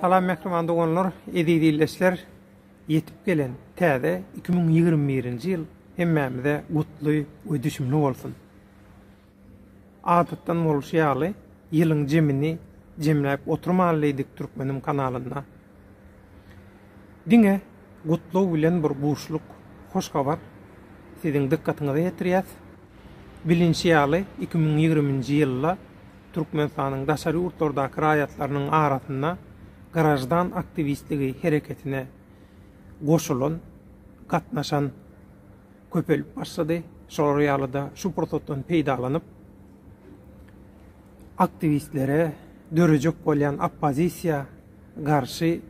Salam mähriban doganlar, eziz ildeşler. Ýetip gelen täze 2021-nji ýyl hemmämize gutly we düşümli bolsun. Adatdan bolşy ýaly, ýylyň jemini jemläp oturmaly diýdik Türkmenim kanalynda. Diňe gutlag bilen bir buşluk hoş habar siziň dykgatyňyza ýetirýäs. Bilinşi ýaly, iki müň ýigriminji ýylda Türkmenistanyň daşary ýurtlardaky raýatlarynyň arasynda graždan aktiwistligi hereketine goşulan, gatnaşan köpelip başlady. Şolar ýaly-da şu pursatdan peýdalanyp, aktiwistlere dörejek bolýan oppozisiýa garşy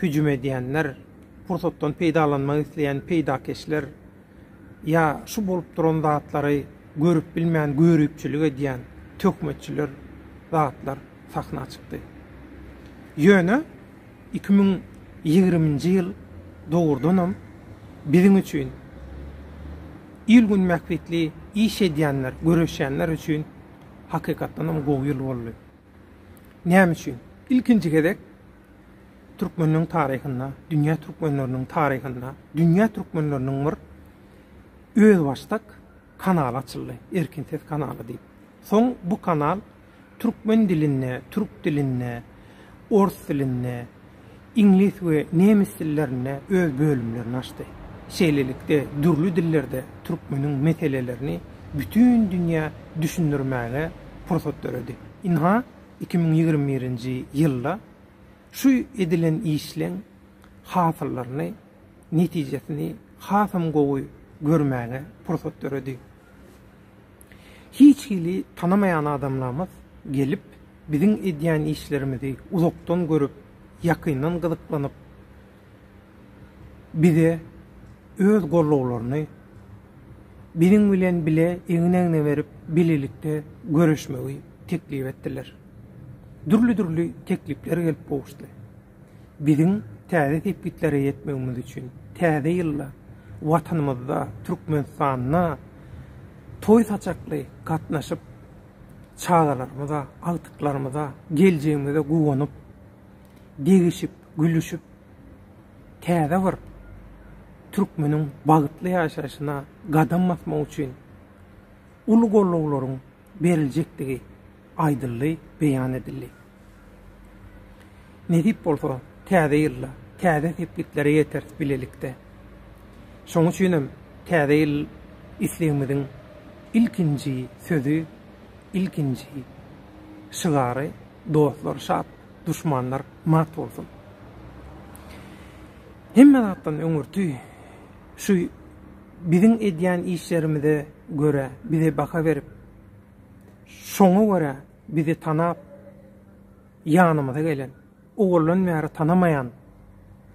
hüjüm edýänler, pursatdan peýdalanmak isleýän peýdakeşler ýa şu bolup duran zatlary görüp bilmän göripçilik edýän töhmetçiler zatlar sahna çykdy. Ýöne iki müň ýigriminji ýyl dogrudanam biziň üçin il-gün bähbitli iş edýänler, göreşýänler üçin hakykatdanam gowy ýyl boldy. Näme üçin? Ilkinji gezek türkmenleriň taryhynda, dünýä türkmenleriniň taryhynda, dünýä türkmenleriniň bir özbaşdak kanaly açyldy, Erkin ses kanaly diýip. Soň bu kanal türkmen dilinde, türk dilinde, ors dilinde, iňlis we nemes dillerinde öz bölümlerini açdy. Şeýlelikde, dürli dillerde türkmeniň meselelerini bütin dünýä düşündirmäge pursat döredi. Ynha, iki müň ýigrimi birinji ýylda şu edilen işleň hasyllaryny, netijesini hasam gowy görmäge pursat döredi. Hiç hili tanamaýan adamlarymyz gelip, biziň edýän işlerimizi uzakdan görüp, ýakyndan gyzyklanyp, bize öz gollawlaryny, biziň bilen bile egin-egne berip, bilelikde göreşmegi teklip etdiler. Dürli-dürli teklipler gelip gowuşdy. Biziň täze sepgitlere ýetmegimiz üçin Täze ýylda Watanymyzda, Türkmenistanda toý saçakly gatnaşyp, çagalarymyza, agtyklarymyza, geljegimize guwanyp, degişip, gülüşip, täze bir türkmeniň bagtly ýaşaýşyna gadam basmak üçin uly gollawlaryň beriljekdigi aýdyldy, beýan edildi. Nesip bolsa, Täze ýylda täze sepgitlere ýeteris bilelikde. Şonuň üçin hem Täze ýyl islegimiziň ilkinji sözi, ilkinji şygary Dostlar şat, duşmanlar mat bolsun. Hemme zatdan öňürti şu Biziň edýän işlerimize görä bize baha berip, şoňa görä bizi tanap, ýanymyza gelen, owaldan bäri tanamaýan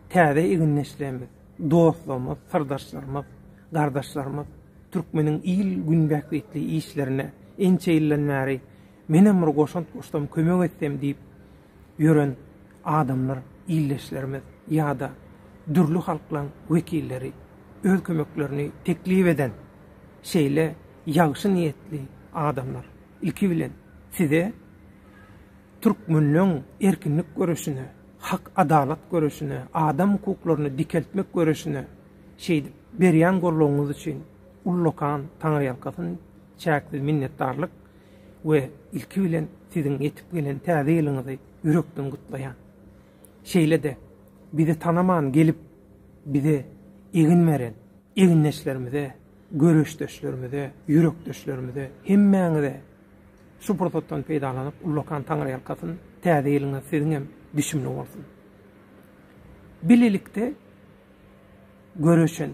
täze egindeşlerimiz, dostlarymyz, syrdaşlarymyz, gardaşlarymyz türkmeniň il-gün bähbitli işlerine ençe ýyldan bäri menem bir goşant goşsam, kömek etsem diýip ýören Adamlar, ildeşlerimiz ýa-da dürli halklaryň wekilleri öz kömeklerini teklip eden şeýle ýagşy niýetli adamlar, ilki bilen, size türkmenleň erkinlik göreşine, hak-adalat göreşine, adam hukuklaryny dikeltmek göreşine şeýdip berýän goldawyňyz üçin ullakan taňryýalkasyn çäksiz minnetdarlyk we ilki bilen siziň ýetip gelen Täze ýylyňyzy ýürekden gutlaýan. Şeýle-de bizi tanaman gelip bize egin beren egindeşlerimize, göreşdeşlerimize, ýürekdeşlerimize hemmäňize şu pursatdan peýdalanyp ullakan taňryýalkasyn täze ýylyňyz siziň hem düşümli bolsun. Bilelikde göreşen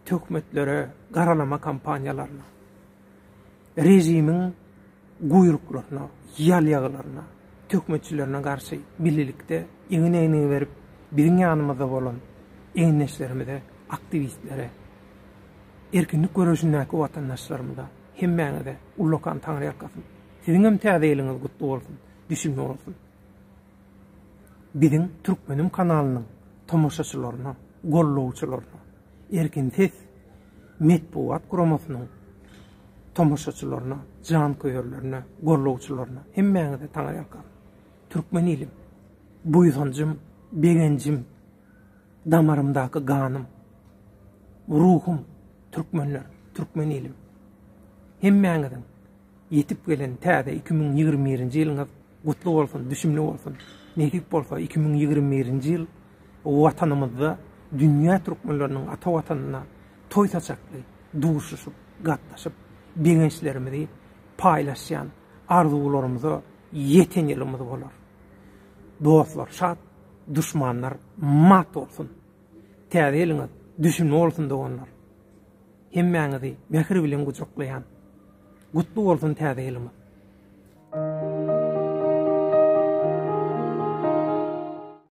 töhmetlere, garalama kampaniýalaryna. Režimiň guýruklaryna, ýal-ýaglaryna, töhmetçilerine garşy birlikde egin-egnigi berip, biziň ýanymyzda bolan egindeşlerimize, aktiwistlere, erkinlik göreşindäki watandaşlarymyza, hemmäňize ullakan taňryýalkasyn! Siziňem Täze ýylyňyz gutly bolsun, düşünme bolsun! Biziň Türkmenim kanalynyň tomaşaçylaryna, gollawçylaryna, Erkin ses metbugat guramasynyň tomaşaçylaryna, janköýerlerine, gollawçylaryna hemmäňize taňaýakam. Türkmen ilim, buýsanjym, begenjim, damarymdaky ganym, ruhum, türkmenler, türkmen ilim. Hemmäňiziň Ýetip gelen täze iki müň ýigrimi birinji ýylyňyz gutly bolsun, düşümli bolsun! Nesip bolsa, iki müň ýigrimi birinji ýyl Watanymyzda dünýä türkmenleriniň ata Watanyna toý saçakly duşuşyp, gatnaşyp, begençlerimizi paýlaşýan, arzuwlarymyza ýeten ýylymyz bolar. Dostlar şat, duşmanlar mat bolsun! Täze ýylyňyz düşümli bolsun doganlar! Hemmäňizi mähir bilen gujaklaýan. Gutly bolsun täze ýylymyz.